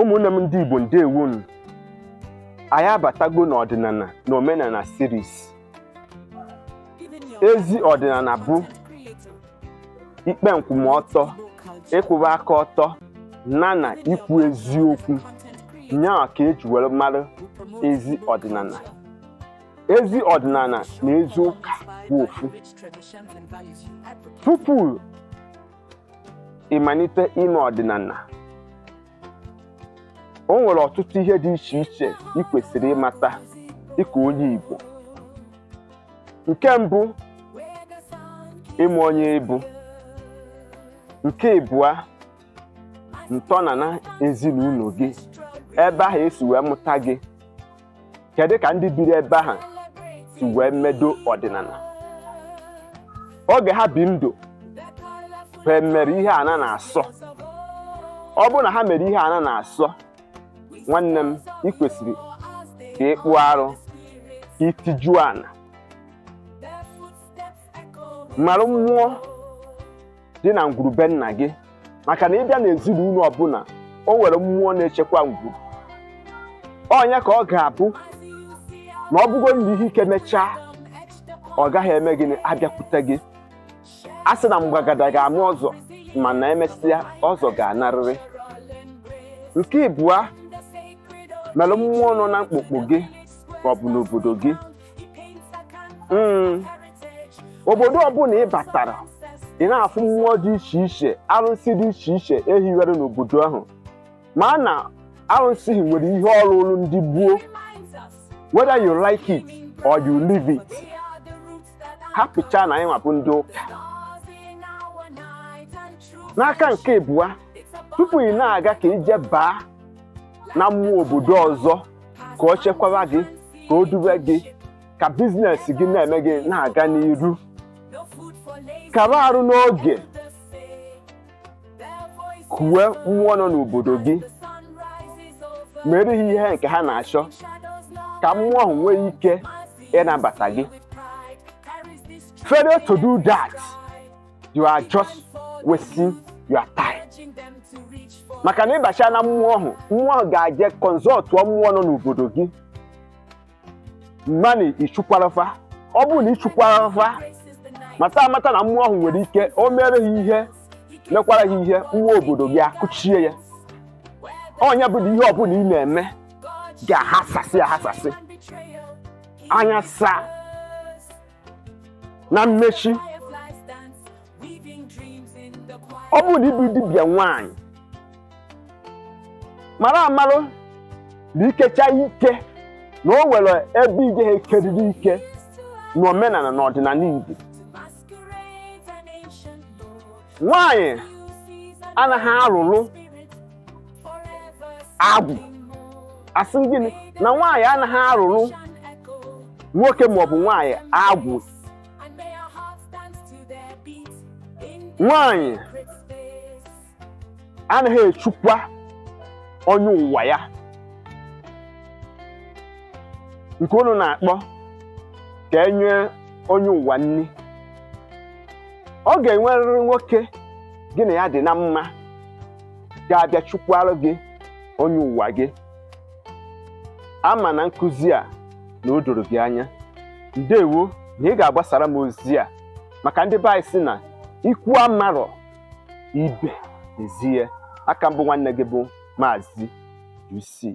ụmụnne m ndị Igbo ndewonụ anyị abatago n'ọdịnala na omenala series ezi ọdịnala bụ ikpe nkwụmọtọ ịkwụba aka ọtọ na na ikwu eziokwu nyaa ka eji were mara ezi ọdịnala ezi ọdịnala na ezi ụka bụ ofu tupu ị malite ime ọdịnala o nwere ọtụtụ ihe dị iche iche ị kwesịrị ịmata dịka onye Igbo nke mbụ ịmụ onye ị bụ nke ịbụa ntọnala ezinụlọ gị ebe ahụ e si wee mụta gị kedu ka ndị biri ebe ahụ si wee medo ọdịnala oge ha bi ndụ ha mere ihe a na-asọ ọ bụrụ na ha mere ihe a na-asọ nwanne m ị kwesịrị ka ịkpụ arụ ka itiju ala mara mmụọ dị na ngwuru be nna gị maka na ị bịa n'ezinụlọ ọbụla o nwere mmụọ na-echekwa ngwuru onye ka ọ ga-abụ na ọ bụgo na ihe ike mechaa ọ gaghị eme gịnị abịakwute gị a sị na mgbagada ga-ama ọzọ mana emesịa ọzọ ga-anarịrị nke ịbụa mere mmụọ nọ na mkpukpu gị maọbụ n'obodo gị Mm. obodo ọbụla ị batara ị na-afụ mmụọ dị iche iche arụsị dị iche iche e hiwere n'obodo ahụ ma na arụsị hi nwere ihe ọ rụụrụ ndị gboo whether you like it or you leave it hapụcha na anyị nwa bụ ndị ụka n'aka nke ịbụa tupu gị na-aga ka i je baa na mmụọ obodo ọzọ ka ọ chekwaba gị ka o dube gị ka biznes gị na-eme gị na-aga n'iru kaba arụ n'oge kuwe mmụọ nọ n'obodo gị meere ha ihe nke ha na-achọ ka mmụọ ahụ nwee ike ịnabata gị failure to do that you are just wasting your time maka na ị bacha na mmụọ ahụ mmụọ ahụ ga-aje consultụọ mmụọ nọ n'obodo gị ma na i chukwara fa ọ bụrụ na i chukwara fa mata amata na mmụọ ahụ nwere ike o meere gị ihe mekwara gị ihe mmụọ obodo gị akụchie ya nya bụ na ihe ọbụla ị na-eme ga-aghasasị aghasasị anya saa na mmechi ọ bụrụ na ị bụ dibịa nwanyị marụ amarụ na i kecha ike na o nwere ebe ị gaghị ekeriri ike n'omenanị na ọdịnanị Igbo nwanyị anaghị arụrụ agwụ asị m gịnị na nwaanyị anaghị arụrụ nwoke maọbụ nwaanyị agwụ nwaanyị anaghị echukwa onye ụwa ya nke unu na-akpọ ka e nye onye ụwa nni ọ ga-enwerịrị nwoke gị na ya dị na mma ga-abịa chụkwara gị onye ụwa gị ama m na nkuzi a na o doro gị anya ndewo na ị ga-agbasara m ozi a maka ndị be anyị si na ikwu amarọ ibe ezie aka m bụ nwanne gị bụ maazị UC